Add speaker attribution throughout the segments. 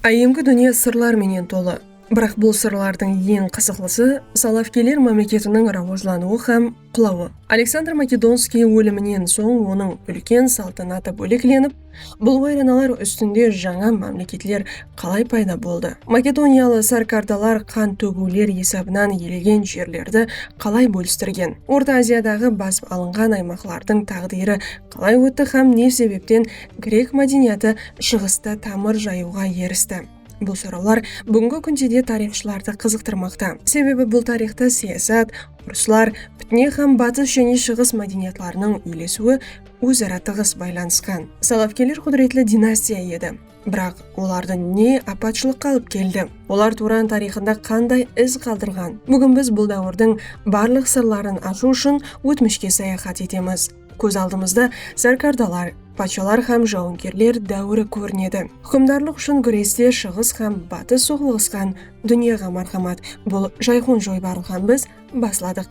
Speaker 1: Áyyemgi dúnye sırlar menen tolı. Biraq bul sırlardıń eń qızıqlısı Solovkiyler mámleketiniń rawajlanıwı hám qulawı. Aleksandr Makedonskiy óliminen soń onıń úlken saltanatı bóleklenip, bul wayranalar ústinde jańa mámleketler qalay payda boldı, makedoniyalı sárkardalar qan tógiwler esabınan iyelegen jerlerdi qalay bólistirgen, Orta Aziyadaǵı basıp alınǵan aymaqlardıń táǵdiyri qalay ótti hám ne sebepten Grek mádeniyatı Shıǵısta tamır jayıwǵa eristi. Bul sorawlar búgingi kúnde de tariyxshılardı qızıqtırmaqta. Sebebi bul tariyxta siyasat, urıslar, pitne hám Batıs jáne Shıǵıs mádeniyatlarınıń úylesiwi óz-ara tıǵıs baylanısqan. Salafkeler qúdiretli dinastiya edi. Biraq olardı ne apatshılıqqa alıp keldi? Olar Turan tariyxında qanday iz qaldırǵan? Búgin biz bul dáwirdiń barlıq sırların ashıw ushın ótmishke sayaxat etemiz. Kóz aldımızda sarkardalar, patshalar hám jawıngerler dáwiri kórinedi. Húkimdarlıq ushın gúreste shıǵıs hám batıs soqlıǵısqan dúnyaǵa marhamat, bul jayxun joybarlıǵan biz basladıq.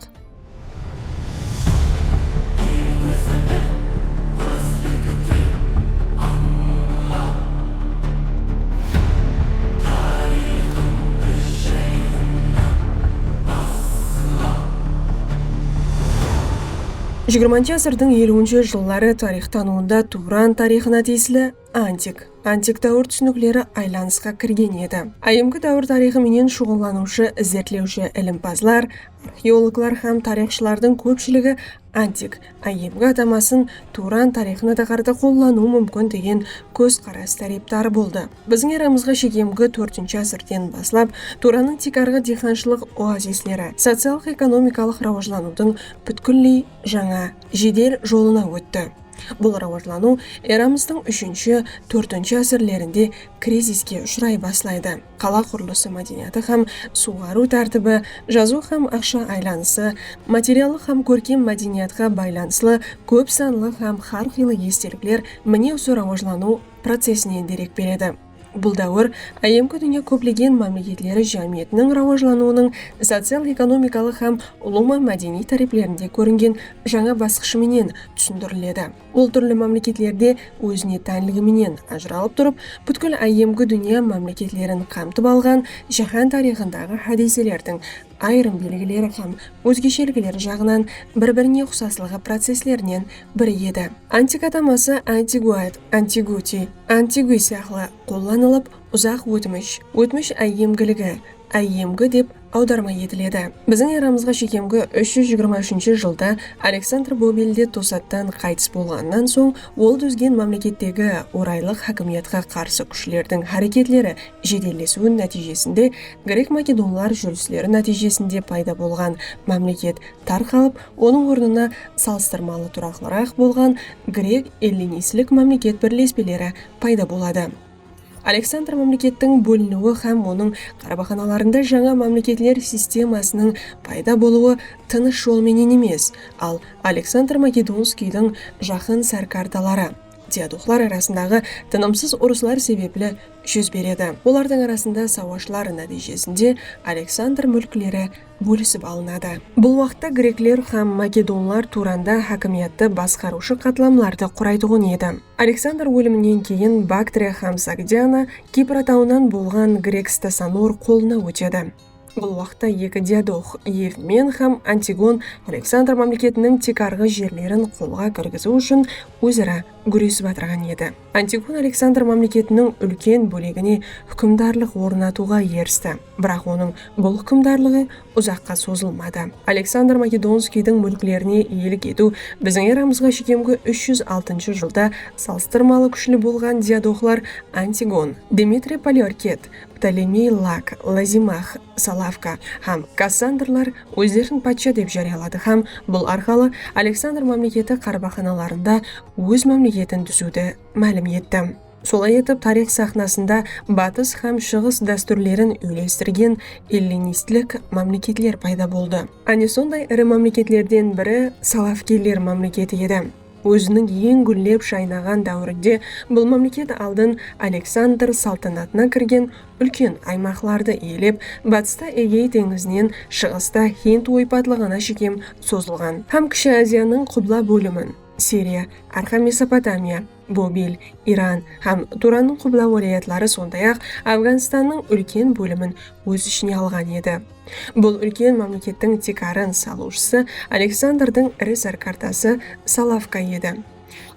Speaker 1: Jigirmanshı ásirdiń eliwinshi jılları tariyxtanıwında Tuwran tariyxına tiyisli antik, antik dáwir túsinikleri aylanısqa kirgen edi. Áyyemgi dáwir tariyxı menen shuǵıllanıwshı izertlewshi ilimpazlar, arxeologlar hám tariyxshılardıń kópshiligi antik, áyyemgi atamasın Tuwran tariyxına taqarda qollanıwı múmkin degen kózqaras tárepdarı boldı. Biziń eramızǵa shegmgi tórtinshi ásirden baslap Tuwrannıń tiykarǵı diyxanshılıq oazisleri sociallıq-ekonomikalıq rawajlanıwdıń pútkilley jańa jedel jolına ótti. Bul rawajlanıw eramızdıń úshinshi, tórtinshi ásirlerinde kriziske ushıray baslaydı. Qala qurılısı mádeniyatı hám suwǵarıw tártibi, jazıw hám aqsha aylanısı, materiallıq hám kórkem mádeniyatqa baylanıslı kóp sanlı hám hár qıylı estelikler mine usı rawajlanıw procesinen derek beredi. Bul dáwir áyyemgi dúnya kóplegen mámleketleri jámiyetiniń rawajlanıwınıń social-ekonomikalıq hám ulıwman mádeniy táreplerinde kóringen jańa basqıshı menen túsindiriledi. Ol túrli mámleketlerde ózine tánligi menen ajıralıp turıp, pútkil áyyemgi dúnya mámleketlerin qamtıp alǵan jáhán tariyxındaǵı hádiyselerdiń ayırım belgileri hám ózgeshelikleri jaǵınan bir-birine uqsaslıǵı processlerinen biri edi. Antik ataması Antiguaid, Antiguti, Antigui sıyaqlı qollanılıp, uzaq ótmish, ótmish áyyemgiligi, áyyemgi dep awdarma etiledi. Biziń eramızǵa shekemgi úsh júz jigirma úshinshi jılda Aleksandr Bobelde tosattan qaytıs bolǵanınan soń ol dúzgen mámlekettegi oraylıq hákimiyatqa qarsı kúshlerdiń háreketleri jedellesiwi nátiyjesinde grek-makedonlar júrisleri nátiyjesinde payda bolǵan mámleket tarqalıp, onıń ornına salıstırmalı turaqlıraq bolǵan grek-ellinistlik mámleket birlespeleri payda boladı. Aleksandr mámlekettiń bóliniwi hám onıń qarbaxanalarında jańa mámleketler sistemasınıń payda bolıwı tınısh jol menen emes, al Aleksandr Makedonskiydiń jaqın sárkardaları, Diaduxlar arasındaǵı tınımsız urıslar sebepli júz beredi. Olardıń arasında sawashlar nátiyjesinde Aleksandr múlkleri bólisip alınadı. Bul waqıtta grekler hám makedonlar Turanda hákimiyetti basqarıwshı qatlamlardı quraytuǵın edi. Aleksandr óliminen keyin Baktriya hám Sogdiana Kipr atawınan bolǵan grek Stasanor qolına ótedi. Bul waqta eki diadoq, Evmen hám Antigon Aleksandr mámleketiniń tiykarǵı jerlerin qolǵa kirgiziw ushın óz-ara gúresip atırǵan edi. Antigon Aleksandr mámleketiniń úlken bólegine húkimdarlıq ornatıwǵa eristi. Biraq onıń bul húkimdarlıǵı uzaqqa sozılmadı. Aleksandr Makedonskiydiń múlklerine iyelik etiw biziń eramızǵa shekemgi úsh júz altınshı jılda salıstırmalı kúshli bolǵan diadoqlar Antigon, Dmitriy Poliorket, Ptolemey Lak, Lazimax, Salavka hám Kassandrlar ózlerin patsha dep járiyaladı hám bul arqalı Aleksandr mámleketi qarbaxanalarında óz mámleketin dúziwdi málim etti. Solay etip, tariyx saxnasında Batıs hám Shıǵıs dástúrlerin úylestirgen ellinistlik mámleketler payda boldı. Áne sonday iri mámleketlerden biri Salavkeler mámleketi edi. Óziniń eń gúllep jaynaǵan dáwirinde bul mámleket aldın Aleksandr saltanatına kirgen úlken aymaqlardı iyelep, batısta Egey teńizinen, shıǵısta Hind oypatlıǵına shekem sozılǵan hám Kishi Aziyanıń qubla bólimin, Siriya, Arqa Mesopotamiya, Bobil, Iran hám Turannıń qubla wálayatları sonday-aq Afganstannıń úlken bólimin óz ishine alǵan edi. Bul úlken mámlekettiń tiykarın salıwshısı Aleksandrdıń iri sárkartası Salavka edi.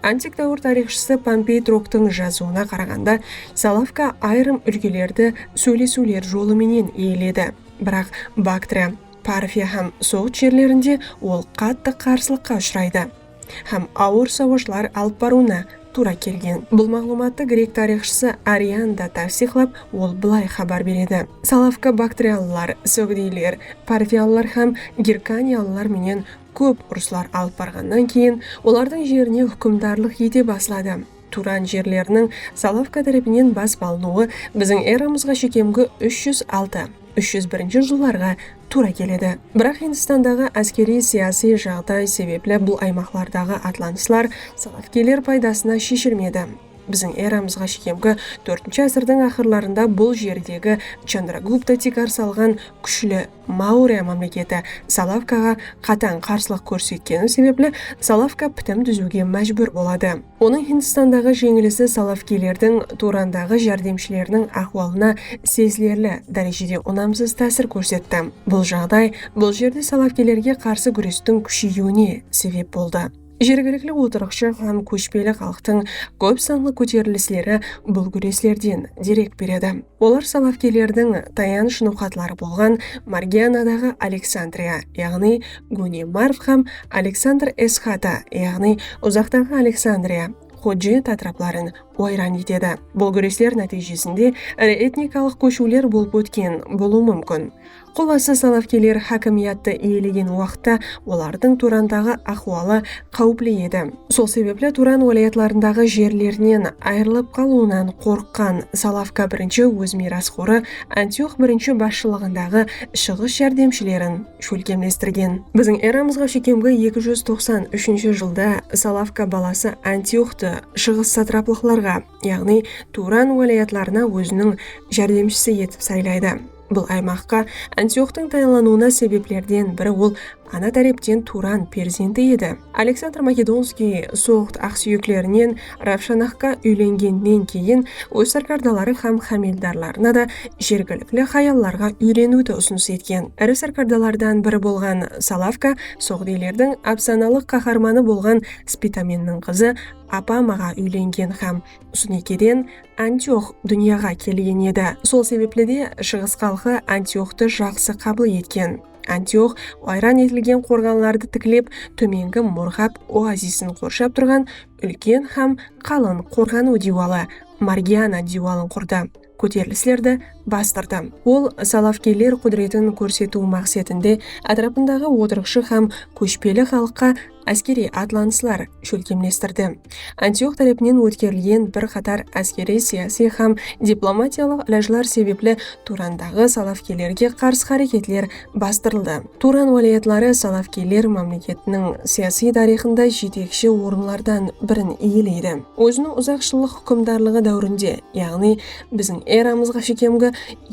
Speaker 1: Antik dáwir tariyxshısı Pompey Troktıń jazıwına qaraǵanda, Salavka ayırım úlkelerdi sóylesiwler jolı menen iyeledi, biraq Baktriya, Parfiya hám Soǵd jerlerinde ol qattı qarsılıqqa ushıraydı. hám awır sawashlar alıp barıwına tuwra kelgen. Bul maǵlıwmattı grek tariyxshısı Arian da tavsiyqlap, ol bılay xabar beredi, Salavka baktriyalılar, sogdiyler, parfiyalılar hám girkaniyalılar menen kóp urıslar alıp barǵannan keyin, olardıń jerine húkimdarlıq ete basladı. turan jerleriniń Solovka tárepinen basıp alınıwı biziń eramızǵa shekemgi úsh júz altı, úsh júz birinshi jıllarǵa tuwra keledi. Biraq Hindistandaǵı áskeriy-siyasiy jaǵday sebepli bul aymaqlardaǵı atlanıslar solovkiyler paydasına sheshilmedi. Biziń eramızǵa shekemgi tórtinshi ásirdiń aqırlarında bul jerdegi Chandragupta tiykar salǵan kúshli Maurya mámleketi Salavkaǵa qatań qarsılıq kórsetkeni sebepli Salavka pitim dúziwge májbúr boladı. Onıń Hindistandaǵı jeńilisi Salavkilerdiń Turandaǵı járdemshileriniń áhwalına sezilerli dárejede unamsız tásir kórsetti. Bul jaǵday bul jerde Salavkilerge qarsı gúrestiń kúsheyiwine sebep boldı. Jergilikli otırıqshı hám kóshpeli xalıqtıń kóp sanlı kóterilisleri bul gúreslerden derek beredi. Olar salafkiylerdiń tayanısh noqatları bolǵan Margianadaǵı Aleksandriya, yaǵnıy Góne Marv hám Aleksandr Esxata, yaǵnıy Uzaqtaǵı Aleksandriya, Xudjet, átirapların wayran etedi. Bul gúresler nátiyjesinde iri etnikalıq kóshiwler bolıp ótken bolıwı múmkin. Qullası salafkiyler hákimiyattı iyelegen waqıtta olardıń Turandaǵı ahwalı qáwipli edi. Sol sebepli Turan wálayatlarındaǵı jerlerinen ayırılıp qalıwınan qorıqqan Salavka birinshi óz miyrasxorı Antiox birinshi basshılıǵındaǵı Shıǵıs járdemshilerin shólkemlestirgen. Biziń eramızǵa shekemgi eki júz toqsan úshinshi jılda Salavka balası Antioxtı Shıǵıs satraplıqlarǵa, yaǵnıy Turan wálayatlarına óziniń járdemshisi etip saylaydı. Bul aymaqqa Antioxtıń tayınlanıwına sebeplerden biri ol ana tárepten Turan perzenti edi. Aleksandr Makedonskiy Soǵd aqsúyeklerinen Ravshanahqa úylengennen keyin óz sárkardaları hám hámeldarlarına da jergilikli hayallarǵa úyreniwdi usınıs etken. Iri sárkardalardan biri bolǵan Salavka soǵdiylerdiń ápsanalıq qaharmanı bolǵan Spitamenniń qızı Apamaǵa úylengen hám Sunikeden Antiox dúnyaǵa kelgen edi. Sol sebepli de Shıǵıs xalqı Antioxtı jaqsı qabıl etken. Antiox wayran etilgen qorǵanlardı tiklep, tómengi Murǵab oazisin qorshap turǵan úlken hám qalın qorǵanıw diywalı, Margiana diywalın qurdı. kóterilislerdi bastırdı. Ol Salafgeyler qúdiretin kórsetiw maqsetinde átirapındaǵı otırıqshı hám kóshpeli xalıqqa áskeriy atlanıslar shólkemlestirdi. Antiox tárepinen ótkerilgen bir qatar áskeriy-siyasiy hám diplomatiyalıq ilajlar sebepli Turandaǵı Salafgeylerge qarsı háreketler bastırıldı. Turan wálayatları Salafgeyler mámleketiniń siyasiy tariyxında jetekshi orınlardan birin iyeleydi. Óziniń uzaq jıllıq húkimdarlıǵı dáwirinde, yaǵnıy biziń eramızǵa shekemgi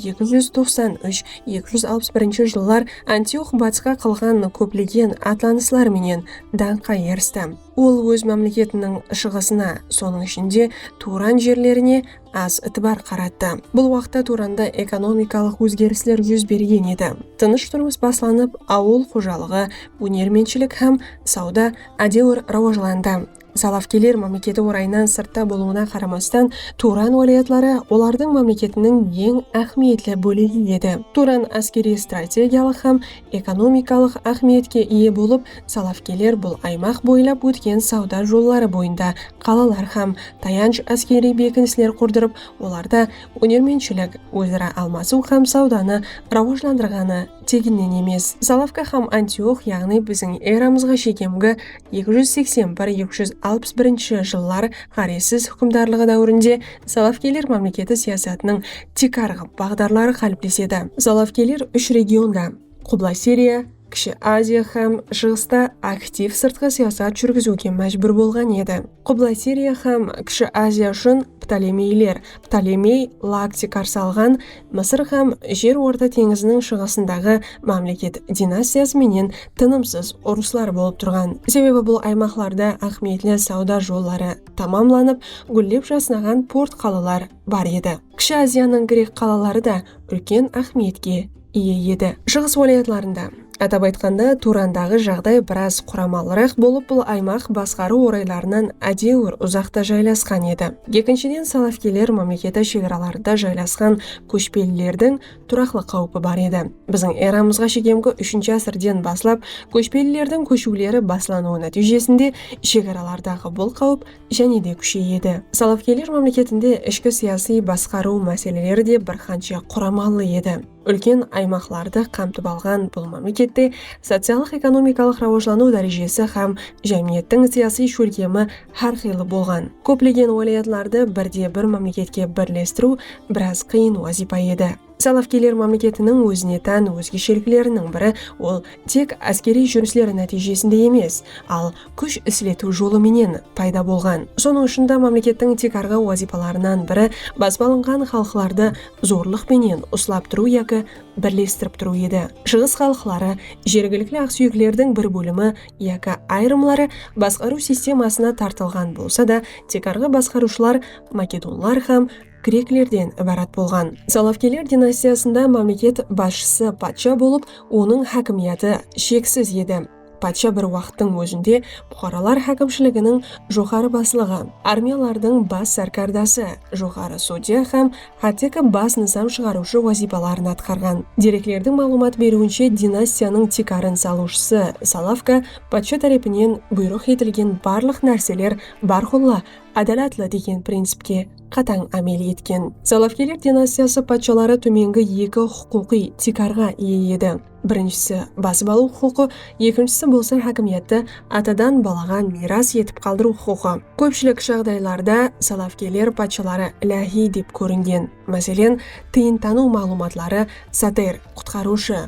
Speaker 1: eki júz toqsan úsh eki júz alpıs birinshi jıllar Antiox batısqa qılǵan kóplegen atlanıslar menen dańqqa eristi. Ol óz mámleketiniń shıǵısına, sonıń ishinde, Turan jerlerine az itibar qarattı. Bul waqıtta Turanda ekonomikalıq ózgerisler júz bergen edi. Tınısh turmıs baslanıp, awıl xojalıǵı, ónermentshilik hám sawda ádewir rawajlandı. Salafkiyler mámleketi orayınan sırtta bolıwına qaramastan, Turan wálayatları olardıń mámleketiniń eń áhmiyetli bólegi edi. Turan áskeriy-strategiyalıq hám ekonomikalıq áhmiyetke iye bolıp, salafkiyler bul aymaq boylap ótken sawda jolları boyında qalalar hám tayanch áskeriy bekinisler qurdırıp, olarda ónermentshilik, óz-ara almasıw hám sawdanı rawajlandırǵanı teginnen emes. Salafka hám Antiox, yaǵnıy biziń eramızǵa shekemgi Eki júz seksen bir, eki júz alpıs birinshi jıllar ǵárezsiz húkimdarlıǵı dáwirinde Solovkiyler mámleketi siyasatınıń tiykarǵı baǵdarları qáliplesedi. Solovkiyler úsh regionda, Qubla Siriya, Kishi Aziya hám Shıǵısta aktiv sırtqı siyasat júrgiziwge májbúr bolǵan edi. Qubla Siriya hám Kishi Aziya ushın Ptolemeyler, Ptolemey, Laakti qarsı alǵan Mısır hám Jer Orta teńiziniń shıǵısındaǵı mámleket dinastiyası menen tınımsız urıslar bolıp turǵan, sebebi bul aymaqlarda áhmiyetli sawda jolları tamamlanıp, gúllep jasnaǵan port qalalar bar edi. Kishi Aziyanıń grek qalaları da úlken áhmiyetke iye edi. Shıǵıs wálayatlarında, atap aytqanda, Turandaǵı jaǵday biraz quramalıraq bolıp, bul aymaq basqarıw oraylarınan ádewir uzaqta jaylasqan edi. Ekinshiden, salafkiyler mámleketi shegaralarında jaylasqan kóshpelilerdiń turaqlı qáwpi bar edi. Biziń eramızǵa shekemgi úshinshi ásirden baslap kóshpelilerdiń kóshiwleri baslanıwı nátiyjesinde shegaralardaǵı bul qáwip jáne de kúsheyedi. Salafgeyler mámleketinde ishki siyasiy basqarıw máseleleri de bir qansha quramalı edi. Úlken aymaqlardı qamtip alǵan bul mámlekette sociallıq-ekonomikalıq rawajlanıw dárejesi hám jámiyettiń siyasiy shólkemi hár qıylı bolǵan. Kóplegen wálayatlardı birde-bir mámleketke birlestiriw biraz qıyın wazıypa edi. Salafgiyler mámleketiniń ózine tán ózgeshelikleriniń biri ol tek áskeriy júrisler nátiyjesinde emes, al kúsh isletiw jolı menen payda bolǵan. Sonıń ushın da mámlekettiń tiykarǵı wazıypalarınan biri basıp alınǵan xalıqlardı zorlıq penen uslap turıw yaki birlestirip turıw edi. Shıǵıs xalıqları, jergilikli aqsúyeklerdiń bir bólimi yaki ayırımları basqarıw sistemasına tartılǵan bolsa da, tiykarǵı basqarıwshılar makedonlar hám. greklerden ibarat bolǵan. Salafkeler dinastiyasında mámleket basshısı patsha bolıp, onıń hákimiyatı sheksiz edi. Patsha bir waqıttıń ózinde puqaralar hákimshiliginiń joqarı baslıǵı, armiyalardıń bas sárkardası, joqarı sudya hám hátteki bas nızam shıǵarıwshı wazıypaların atqarǵan. Dereklerdiń maǵlıwmat beriwinshe, dinastiyanıń tiykarın salıwshısı Salafka patsha tárepinen buyrıq etilgen barlıq nárseler bárqulla ádalatlı degen printsipke qatań ámel etken. Salafiyler dinastiyası patshaları tómengi eki huqıqıy tiykarǵa iye edi, birinshisi, basıp alıw huqıqı, ekinshisi bolsa hákimiyetti atadan balaǵa miyras etip qaldırıw huqıqı. Kópshilik jaǵdaylarda salafiyler patshaları iláhiy dep kóringen, máselen, tıyıntanıw maǵlıwmatları Sater, Qutqarıwshı,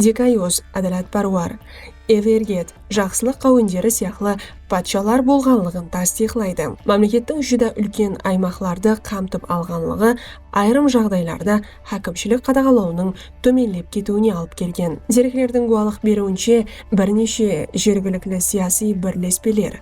Speaker 1: Dikayus, Ádalatpárwar, Everget, Jaqsılıq qáwenderi sıyaqlı patshalar bolǵanlıǵın tastıyıqlaydı. Mámlekettiń júdá úlken aymaqlardı qamtıp alǵanlıǵı ayırım jaǵdaylarda hákimshilik qadaǵalawınıń tómenlep ketiwine alıp kelgen. Dereklerdiń gúwalıq beriwinshe, bir neshe jergilikli siyasıy birlespeler,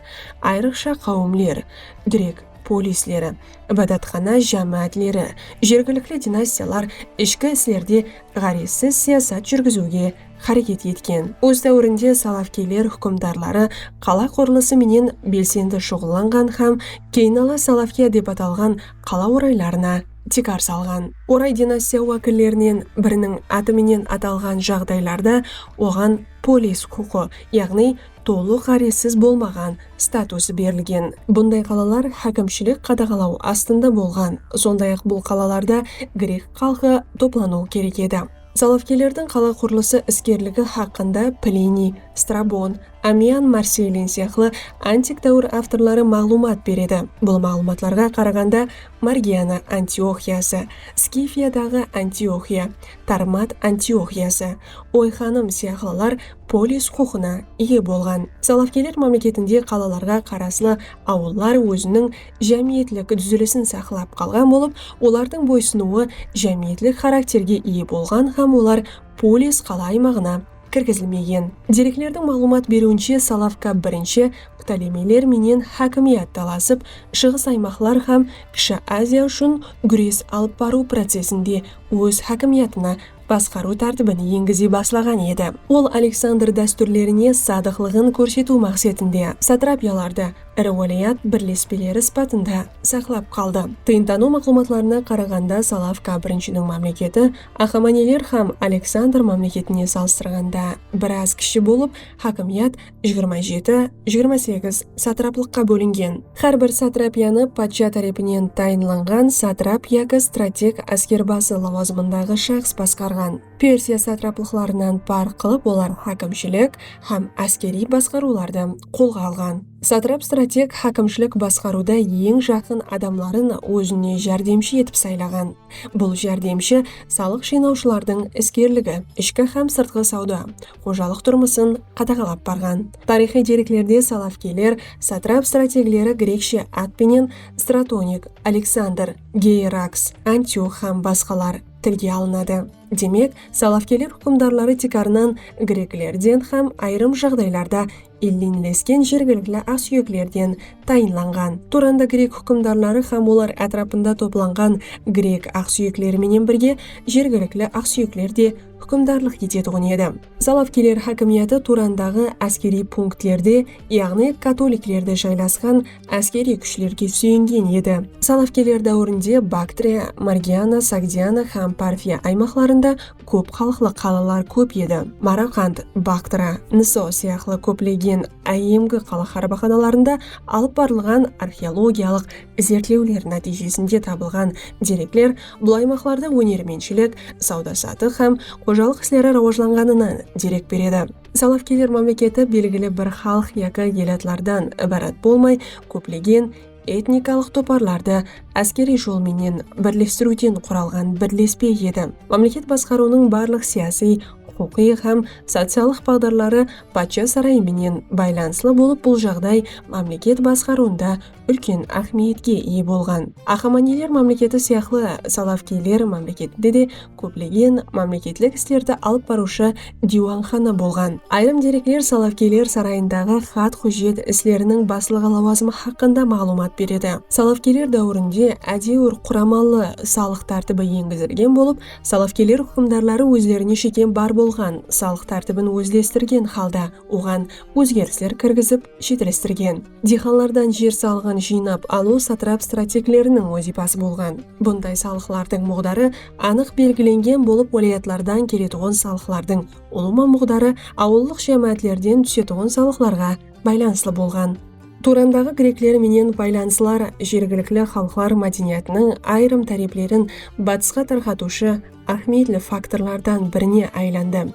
Speaker 1: ayrıqsha qáwimler, grek polisleri, ibadatxana jámáátleri, jergilikli dinastiyalar ishki islerde ǵárezsiz siyasat júrgiziwge xáreket etken. Óz dáwirinde salafkeyler húkimdarları qala qurılısı menen belsendi shuǵıllanǵan hám keynala Salafkiya dep atalǵan qala oraylarına tiykar salǵan. Oray dinastiya wákillerinen biriniń atı menen atalǵan jaǵdaylarda oǵan polis huqıqı, yaǵnıy tolıq ǵárezsiz bolmaǵan statusı berilgen. Bunday qalalar hákimshilik qadaǵalaw astında bolǵan, sonday-aq bul qalalarda grek xalqı toplanıwı kerek edi. Solovkiylerdiń qala qurılısı iskerligi haqqında Pliniy, Strabon, Amiyan Marseylin sıyaqlı antik dáwir avtorları maǵlıwmat beredi. Bul maǵlıwmatlarǵa qaraǵanda Margiana Antioxiyası, Skifiyadaǵı Antioxiya, Tarmat Antioxiyası, Oyxanım sıyaqlılar polis huqıqına iye bolǵan. Solovkiyler mámleketinde qalalarǵa qaraslı awıllar óziniń jámiyetlik dúzilisin saqlap qalǵan bolıp, olardıń boysınıwı jámiyetlik xarakterge iye bolǵan hám olar polis qala aymaǵına kirgizilmegen. Dereklerdiń maǵlıwmat beriwinshe, Salavka birinshi Ptolemeyler menen hákimiyat talasıp, Shıǵıs aymaqlar hám Kishi Aziya ushın gúres alıp barıw procesinde óz hákimiyatına basqarıw tártibin engize baslaǵan edi. Ol Aleksandr dástúrlerine sadıqlıǵın kórsetiw maqsetinde satrapiyalardı iri wálayat birlespeleri sıpatında saqlap qaldı. Tıyıntanıw maqlumatlarına qaraǵanda Salavka birinshiniń mámleketi Axamaneler hám Aleksandr mámleketine salıstırǵanda biraz kishi bolıp, hákimiyat jigirma jeti, jigirma segiz, satraplıqqa bólingen. Hár bir satrapiyanı patsha tárepinen tayınlanǵan satrap yaki strateg áskerbası lawazımındaǵı shaxs basqarǵan. Persiya satraplıqlarınan párq qılıp olar hákimshilik hám áskeriy basqarıwlardı qolǵa alǵan. Satrap strateg hákimshilik basqarıwda eń jaqın adamların ózine járdemshi etip saylaǵan. Bul járdemshi salıq jıynawshılardıń iskerligi, ishki hám sırtqı sawda, xojalıq turmısın qadaǵalap barǵan. Tariyxıy dereklerde salafkiyler satrap-strategleri grekshe at penen Stratonik, Aleksandr, Geiraks, Antiux hám basqalar tilge alınadı. Demek, salafkiyler húkimdarları tiykarınan greklerden hám ayırım jaǵdaylarda elleńlesken jergilikli aqsúyeklerden tayınlanǵan. Turanda grek húkimdarları hám olar átirapında toplanǵan grek aqsúyekleri menen birge jergilikli aqsúyekler de húkimdarlıq etetuǵın edi. Zalavkiler hákimiyatı Turandaǵı áskeriy punktlerde, yaǵnıy katoliklerde jaylasqan áskeriy kúshlerge súyengen edi. Zalavkiler dáwirinde Baktriya, Margiana, Sogdiana hám Parfiya aymaqlarında kóp xalıqlı qalalar kóp edi. Maraqand, Baktra, Niso sıyaqlı kóplegen áyyemgi qala xarbaxanalarında alıp barılǵan arxeologiyalıq izertlewler nátiyjesinde tabılǵan derekler bul aymaqlarda ónermentshilik, sawda-satıq hám xojalıq isleri rawajlanǵanınan derek beredi. Salafkeler mámleketi belgili bir xalıq yaki elatlardan ibarat bolmay, kóplegen etnikalıq toparlardı áskeriy jol menen birlestiriwden quralǵan birlespe edi. Mámleket basqarıwınıń barlıq siyasiy, huqıqıy hám sociallıq baǵdarları patsha sarayı menen baylanıslı bolıp bul jaǵday mámleket basqarıwında úlken áhmiyetke iye bolǵan. Axamaniyler mámleketi sıyaqlı Salavkiyler mámleketinde de kóplegen mámleketlik islerdi alıp barıwshı diywanxana bolǵan. Ayırım derekler Solovkiyler sarayındaǵı xat-hújjet isleriniń baslıǵı lawazımı haqqında maǵlıwmat beredi. Solovkiyler dáwirinde ádewir quramalı salıq tártibi engizilgen bolıp, Solovkiyler húkimdarları ózlerine shekem bar bolǵan salıq tártibin ózlestirgen halda oǵan ózgerisler kirgizip, shetlestirgen. Diyxanlardan jer salıǵın jıynap alıw satrap strategleriniń wazıypası bolǵan. Bunday salıqlardıń muǵdarı anıq belgilengen bolıp wálayatlardan keletuǵın salıqlardıń ulıwma muǵdarı awıllıq jámáátlerden túsetuǵın salıqlarǵa baylanıslı bolǵan. Turandaǵı grekler menen baylanıslar jergilikli xalıqlar mádeniyatınıń ayırım táreplerin batısqa tarqatıwshı áhmiyetli faktorlardan birine aylandı.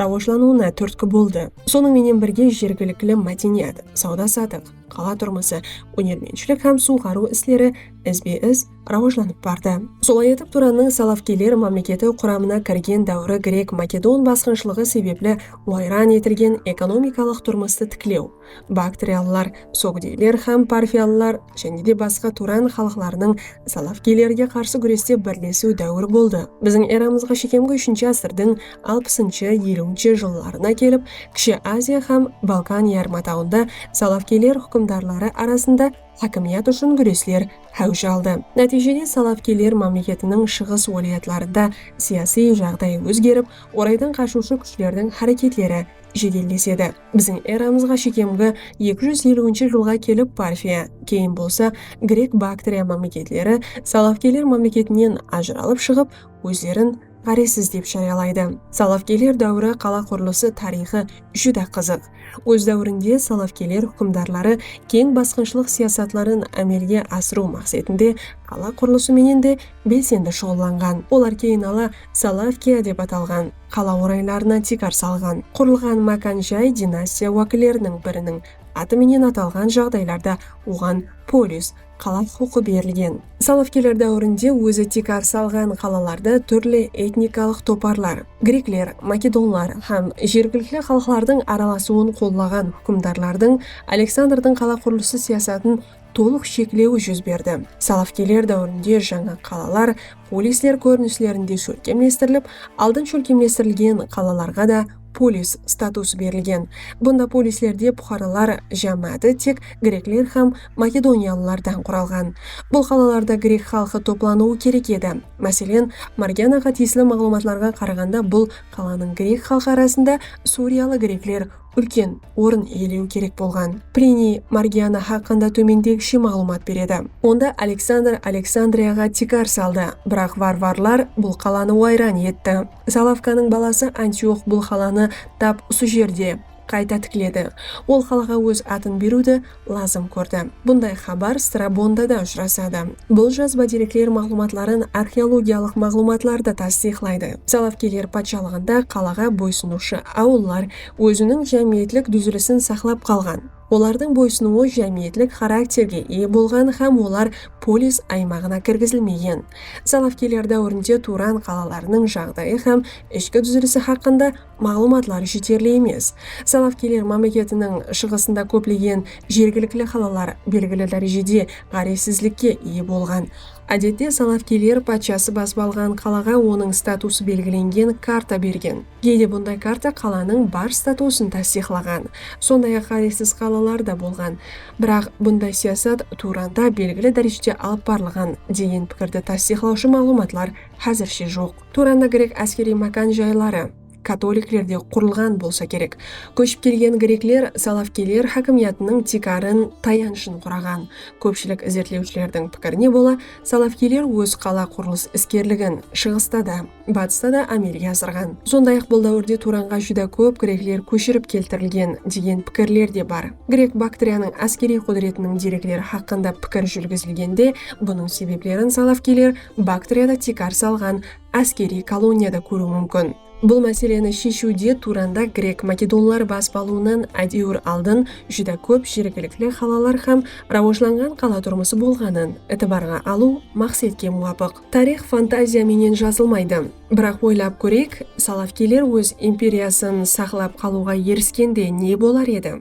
Speaker 1: rawajlanıwına túrtki boldı. Sonıń menen birge jergilikli mádeniyat, sawda-satıq, qala turmısı, ónermentshilik hám suwǵarıw isleri izbe-iz rawajlanıp bardı. Solay etip Turannıń Salafkiyler mámleketi quramına kirgen dáwri grek-makedon basqınshılıǵı sebepli wayran etilgen ekonomikalıq turmıstı tiklew, Baktriyalılar, psogdiyler hám parfiyalılar jáne de basqa turan xalıqlarınıń salafkiylerge qarsı gúreste birlesiw dáwiri boldı. Biziń eramızǵa shekemgi úshinshi ásirdiń alpısınshı, eliwinshi jıllarına kelip, Kishi Aziya hám Balkan yarımatawında salafkiyler húkimdarları arasında hákimiyat ushın gúresler háwij aldı. Nátiyjede salafkiyler mámleketiniń shıǵıs wálayatlarında siyasiy jaǵday ózgerip, oraydan qashıwshı kúshlerdiń háreketleri jedellesedi. Biziń eramızǵa shekemgi eki júz eliwinshi jılǵa kelip Parfiya, keyin bolsa Grek-Baktriya mámleketleri Salafkiyler mámleketinen ajıralıp shıǵıp, ózlerin ǵárezsiz dep járiyalaydı. Salafkiyler dáwiri qala qurılısı tariyxı júdá qızıq. Óz dáwirinde Salafkiyler húkimdarları keń basqınshılıq siyasatların ámelge asırıw maqsetinde qala qurılısı menen de belsendi shuǵıllanǵan. Olar keyin ala Salafkiya dep atalǵan. Qala oraylarına tiykar salǵan. Qurılǵan mákan jay dinastiya wákilleriniń biriniń atı menen atalǵan jaǵdaylarda oǵan polis, qala huqıqı berilgen. Salafkeler dáwirinde ózi tiykar salǵan qalalarda túrli etnikalıq toparlar, grekler, makedonlar hám jergilikli xalıqlardıń aralasıwın qollaǵan húkimdarlardıń Aleksandrdıń qala qurılısı siyasatın tolıq sheklewi júz berdi. Salafkiyler dáwirinde jańa qalalar polisler kórinislerinde shólkemlestirilip, aldın shólkemlestirilgen qalalarǵa da polis statusı berilgen. Bunda polislerde puqaralar jámááti tek grekler hám makedoniyalılardan quralǵan. Bul qalalarda grek xalqı toplanıwı kerek edi. Máselen, Margianaǵa tiyisli maǵlıwmatlarǵa qaraǵanda bul qalanıń grek xalqı arasında suriyalı grekler úlken orın iyelewi kerek bolǵan Pliniy Margiana haqqında tómendegishe maǵlıwmat beredi, Onda Aleksandr Aleksandriyaǵa tiykar saldı, biraq varvarlar bul qalanı wayran etti. Zalavkanıń balası Antiox bul qalanı tap usı jerde qayta tikledi. Ol qalaǵa óz atın beriwdi lazım kórdi. Bunday xabar Strabonda da ushırasadı. Bul jazba derekler maǵlıwmatların arxeologiyalıq maǵlıwmatlar da tastıyıqlaydı. Salavkiyler patshalıǵında qalaǵa boysınıwshı awıllar óziniń jámiyetlik dúzilisin saqlap qalǵan. Olardıń boysınıwı jámiyetlik xarakterge iye bolǵan hám olar polis aymaǵına kirgizilmegen. Salavkiyler dáwirinde Turan qalalarınıń jaǵdayı hám ishki dúzilisi haqqında maǵlıwmatlar jeterli emes. Salafkiyler mámleketiniń shıǵısında kóplegen jergilikli qalalar belgili dárejede ǵárezsizlikke iye bolǵan. Ádette, salafkiyler patshası basıp alǵan qalaǵa onıń statusı belgilengen karta bergen. Geyde bunday karta qalanıń bar statusın tastıyıqlaǵan. Sonday-aq, ǵárezsiz qalalar da bolǵan. Biraq, bunday siyasat Turanda belgili dárejede alıp barılǵan degen pikirdi tastıyıqlawshı maǵlıwmatlar Házirshe joq. Turanı grek áskeriy mákan jayları katoliklerde qurılǵan bolsa kerek. Kóship kelgen grekler Salavkiyler hákimiyatınıń tiykarın, tayanshın quraǵan. Kópshilik izertlewshilerdiń pikirine bola, Salavkiyler óz qala qurılıs iskerligin Shıǵısta da, Batısta da ámelge asırǵan. Sonday-aq bul dáwirde Turanǵa júdá kóp grekler kóshirip keltirilgen degen pikirler de bar. Grek Baktriyanıń áskeriy qúdiretiniń derekleri haqqında pikir júrgizilgende bunıń sebeplerin Salavkiyler, Baktriyada tiykar salǵan áskeriy koloniya da kóriw múmkin. Bul máseleni sheshiwde Turanda grek-makedonlar basıp alıwınan ádewir aldın júdá kóp jergilikli qalalar hám rawajlanǵan qala turmısı bolǵanın itibarǵa alıw maqsetke muwapıq. Tariyx fantaziya menen jazılmaydı. Biraq oylap kóreyik, Salafkiyler óz imperiyasın saqlap qalıwǵa eriskende ne bolar edi?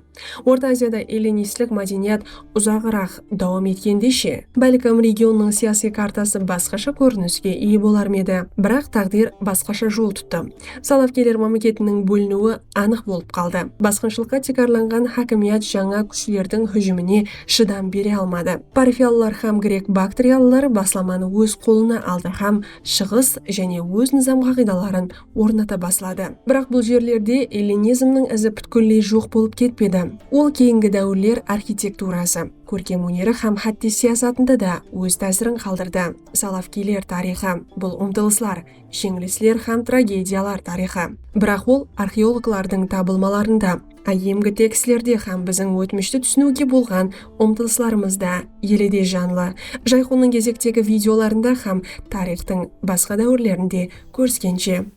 Speaker 1: Orta Aziyada ellinistlik mádeniyat uzaǵıraq dawam etkende she? Bálkim regionnıń siyasiy kartası basqasha kóriniske iye bolar ma edi? Biraq táǵdir basqasha jol tuttı. Salafkeler mámleketiniń bóliniwi anıq bolıp qaldı. Basqınshılıqqa tiykarlanǵan hákimiyat jańa kúshlerdiń hújimine shıdam bere almadı. Parfiyalılar hám grek-baktriyalılar baslamanı óz qolına aldı hám Shıǵıs jáne óz nızam-qaǵıydaların ornata basladı. Biraq bul jerlerde ellinizmniń izi pútkilley joq bolıp ketpedi. Ol keyingi dáwirler arxitekturası, kórkem óneri hám hátte siyasatında da óz tásirin qaldırdı. Salafkiyler tariyxı, bul umtılıslar, jeńilisler hám tragediyalar tariyxı. Biraq ol arxeologlardıń tabılmalarında, áyyemgi tekstlerde hám biziń ótmishti túsiniwge bolǵan umtılıslarımızda ele de janlı, Jayxonnıń gezektegi videolarında hám tariyxtıń basqa dáwirlerinde kóriskenshe.